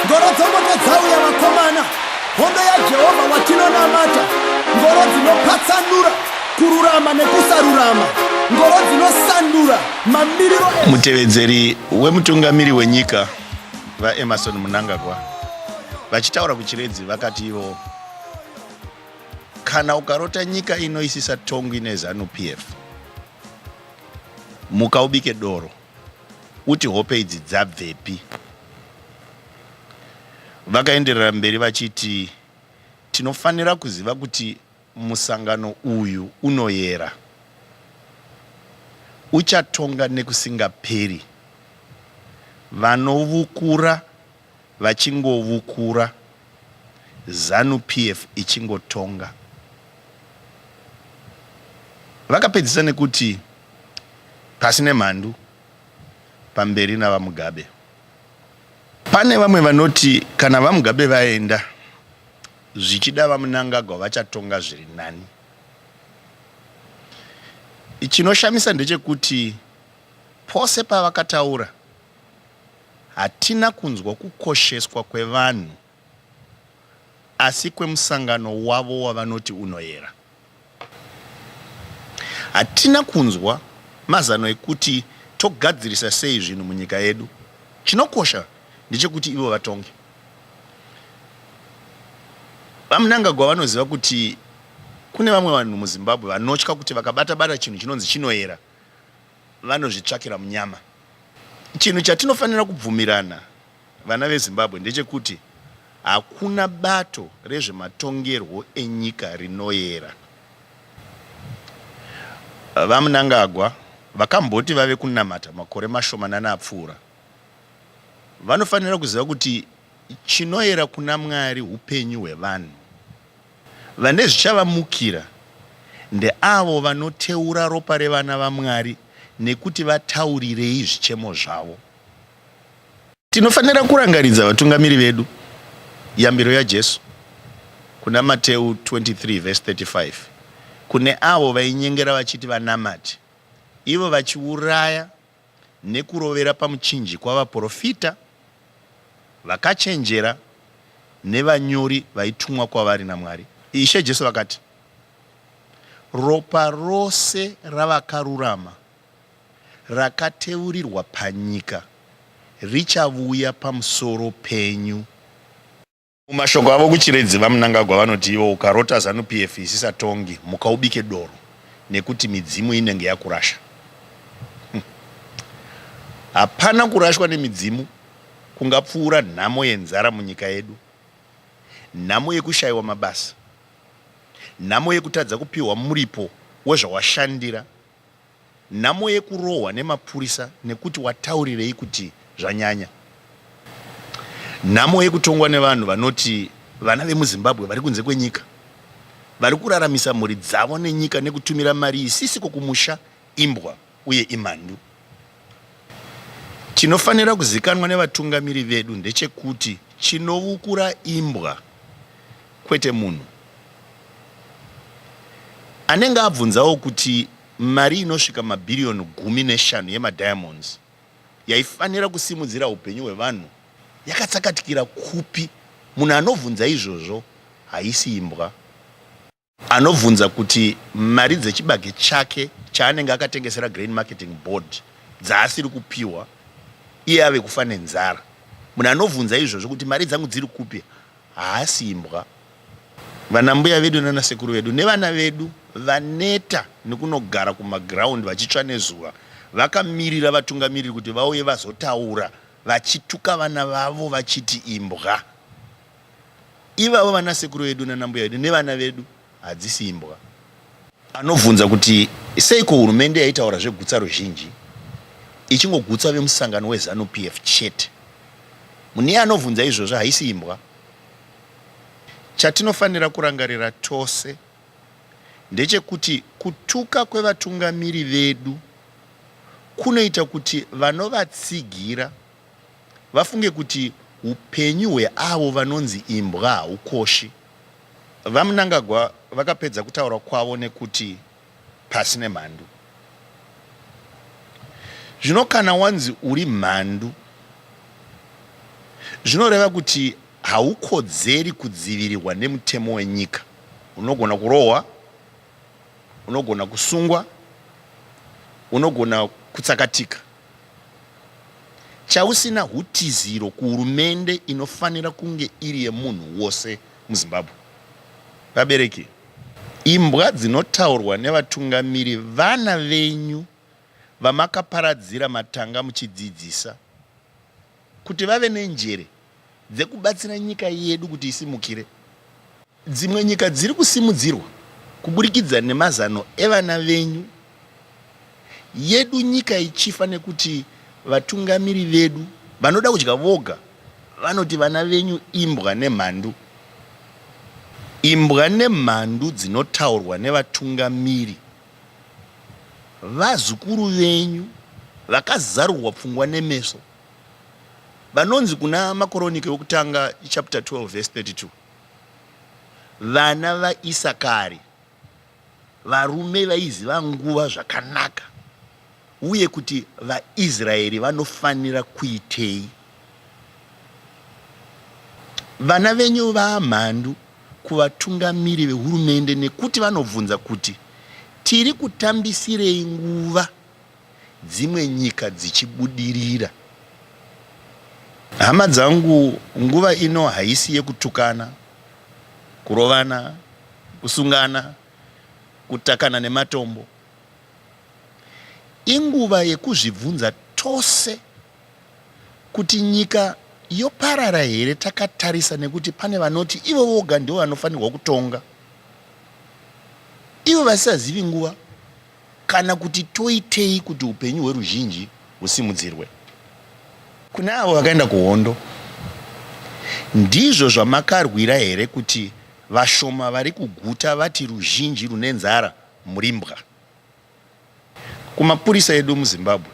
ngoro dzomoto dzauya vakomana hondo yajehovha watinonamata ngoro dzinopatsanura kururama nekusarurama ngoro dzinosandura mamiriro mutevedzeri wemutungamiri wenyika vaemarson munangagwa vachitaura kuchiredzi vakati ivo kana ukarota nyika inoisisa tongwi nezanupf mukaubike doro Uti hope idzi dzabvepi? Vakaenderera mberi vachiti, Tinofanira kuziva kuti musangano uyu unoyera, uchatonga nekusingaperi. Vanovukura. vachingovukura zanu PF ichingotonga. Vakapedzisa nekuti pasi nemhandu pamberi navamugabe. Pane vamwe vanoti kana vamugabe vaenda zvichida vamunangagwa vachatonga zviri nani. Chinoshamisa ndechekuti pose pavakataura Hatina kunzwa kukosheswa kwevanhu asi kwemusangano wavo wavanoti unoyera. Hatina kunzwa mazano ekuti togadzirisa sei zvinhu munyika yedu. Chinokosha ndechekuti ivo vatonge. VaMnangagwa vanoziva kuti kune vamwe vanhu muZimbabwe vanotya kuti vakabata-bata chinhu chinonzi chinoyera vanozvitsvakira munyama. Chinhu chatinofanira kubvumirana vana veZimbabwe ndechekuti hakuna bato rezvematongerwo enyika rinoyera. VaMnangagwa vakamboti vave kunamata makore mashomanana apfuura. Vanofanira kuziva kuti chinoyera kuna Mwari upenyu hwevanhu. Vane zvichavamukira ndeavo vanoteura ropa revana vaMwari nekuti vataurirei zvichemo zvavo. Tinofanira kurangaridza vatungamiri vedu yambiro yaJesu kuna Mateu 23 vhesi 35 kune avo vainyengera vachiti vanamati ivo vachiuraya nekurovera pamuchinjikwa vaporofita vakachenjera nevanyori vaitumwa kwavari naMwari. Ishe Jesu vakati, Ropa rose ravakarurama rakateurirwa panyika richavuya pamusoro penyu. Mumashoko avo kuChiredzi, VaMnangagwa vanoti ivo ukarota Zanu PF isisa tongi muka ubike doro nekuti midzimu inenge yakurasha. Hm. Hapana kurashwa nemidzimu kungapfuura nhamo yenzara munyika yedu, nhamo yekushayiwa mabasa, nhamo yekutadza kupiwa muripo wezvawashandira. Nhamo yekurohwa nemapurisa nekuti wataurirei kuti zvanyanya. Nhamo yekutongwa nevanhu vanoti vana vemuZimbabwe vari kunze kwenyika vari kuraramisa mhuri dzavo nenyika nekutumira mari isisiko kumusha imbwa uye imhandu. Chinofanira kuzikanwa nevatungamiri vedu ndechekuti chinovukura imbwa Kwete munhu anenge abvunzawo kuti mari inosvika mabhiriyoni gumi neshanu yemadiamonds yaifanira kusimudzira upenyu hwevanhu yakatsakatikira kupi? Munhu anobvunza izvozvo haisi imbwa. Anobvunza kuti mari dzechibage chake chaanenge akatengesera Grain Marketing Board dzaasiri kupiwa iye ave kufa nenzara. Munhu anobvunza izvozvo kuti mari dzangu dziri kupi? Haasi imbwa. Vana mbuya vedu nana sekuru vedu nevana vedu vaneta nekunogara kumaground vachitsva nezuva vakamirira vatungamiriri kuti vauye vazotaura vachituka vana vavo vachiti imbwa. Ivavo vana sekuru vedu nana mbuya vedu nevana vedu. hadzisi imbwa. Anobvunza kuti seiko hurumende yaitaura zvegutsa ruzhinji ichingogutsa vemusangano weZanu PF chete. Mune anobvunza izvozvo haisi imbwa. Chatinofanira kurangarira tose ndechekuti kutuka kwevatungamiri vedu kunoita kuti vanovatsigira vafunge kuti hupenyu hweavo vanonzi imbwa haukoshi. VaMnangagwa vakapedza kutaura kwavo nekuti pasi nemhandu. Zvino kana wanzi uri mhandu zvinoreva kuti haukodzeri kudzivirirwa nemutemo wenyika. Unogona kurohwa, unogona kusungwa, unogona kutsakatika. chausina hutiziro kuhurumende inofanira kunge iri yemunhu wose muZimbabwe. Vabereki, imbwa dzinotaurwa nevatungamiri vana venyu vamakaparadzira matanga muchidzidzisa. kuti vave nenjere dzekubatsira nyika yedu kuti isimukire. Dzimwe nyika dziri kusimudzirwa kuburikidza nemazano evana venyu, yedu nyika ichifa nekuti vatungamiri vedu vanoda kudya voga vanoti vana venyu imbwa nemhandu. Imbwa nemhandu dzinotaurwa nevatungamiri vazukuru venyu vakazarurwa pfungwa nemeso. Vanonzi kuna Makoronike wokutanga chapter 12 verse 32 vana vaIsakari varume vaiziva nguva zvakanaka uye kuti vaIsraeri vanofanira kuitei. Vana venyu vaamhandu kuvatungamiri vehurumende nekuti vanobvunza kuti tiri kutambisirei nguva dzimwe nyika dzichibudirira. Hama dzangu nguva ino haisi yekutukana, kurovana, kusungana, kutakana nematombo. Inguva yekuzvibvunza tose kuti nyika yoparara here takatarisa nekuti pane vanoti ivo voga ndivo vanofanirwa kutonga ivo vasisazivi nguva Kana kuti toitei kuti upenyu hweruzhinji husimudzirwe? Kune avo vakaenda kuhondo, ndizvo zvamakarwira here kuti vashoma vari kuguta vati ruzhinji rune nzara muri mbwa? Kumapurisa edu muZimbabwe,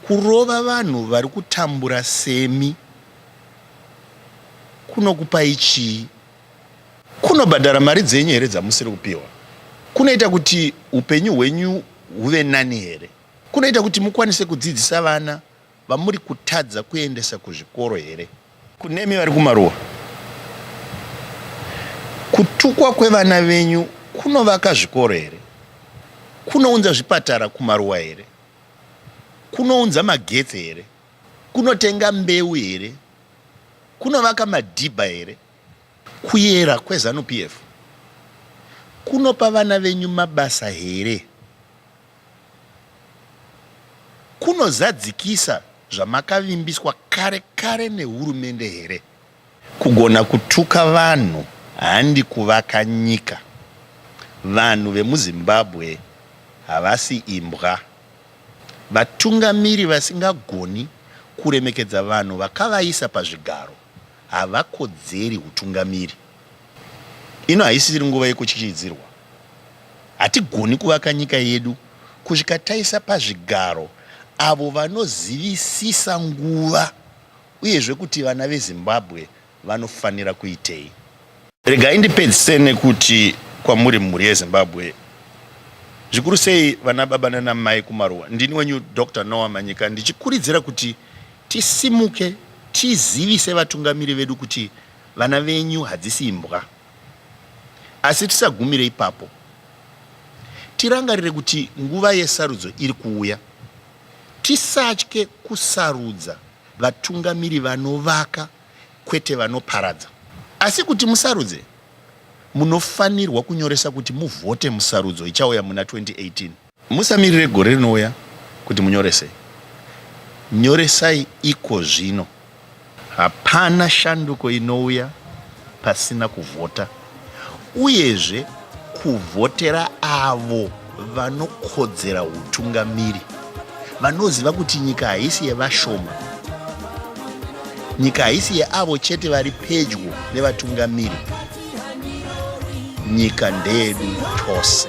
kurova vanhu vari kutambura semi kunokupai chii? kunobhadhara mari dzenyu here dzamusiri kupiwa kunoita kuti upenyu hwenyu huve nani here kunoita kuti mukwanise kudzidzisa vana vamuri kutadza kuendesa kuzvikoro here kunemi vari kumaruwa kutukwa kwevana venyu kunovaka zvikoro here kunounza zvipatara kumaruwa here kunounza magetsi here kunotenga mbeu here kunovaka madhibha here Kuyera kweZanu PF kunopa vana venyu mabasa here? Kunozadzikisa zvamakavimbiswa kare kare nehurumende here? Kugona kutuka vanhu handi kuvaka nyika. Vanhu vemuZimbabwe havasi imbwa. Vatungamiri vasingagoni kuremekedza vanhu vakavaisa pazvigaro havakodzeri hutungamiri. Ino haisiri nguva yekutyityidzirwa. Hatigoni kuvaka nyika yedu kusvika taisa pazvigaro avo vanozivisisa nguva uyezve kuti vana veZimbabwe vanofanira kuitei. Regai ndipedzise nekuti kwamuri mhuri yeZimbabwe zvikuru sei vana baba nana mai kumaruwa ndini wenyu Dr Noah Manyika ndichikuridzira kuti tisimuke tizivise vatungamiri vedu kuti vana venyu hadzisi imbwa asi tisagumire ipapo tirangarire kuti nguva yesarudzo iri kuuya tisatye kusarudza vatungamiri vanovaka kwete vanoparadza. Asi kuti musarudze, munofanirwa kunyoresa kuti muvhote musarudzo ichauya muna 2018. Musamirire gore rinouya kuti munyorese. Nyoresai iko zvino. Hapana shanduko inouya pasina kuvhota. uyezve kuvhotera avo vanokodzera utungamiri vanoziva kuti nyika haisi yevashoma nyika haisi yeavo chete vari pedyo nevatungamiri nyika ndeyedu tose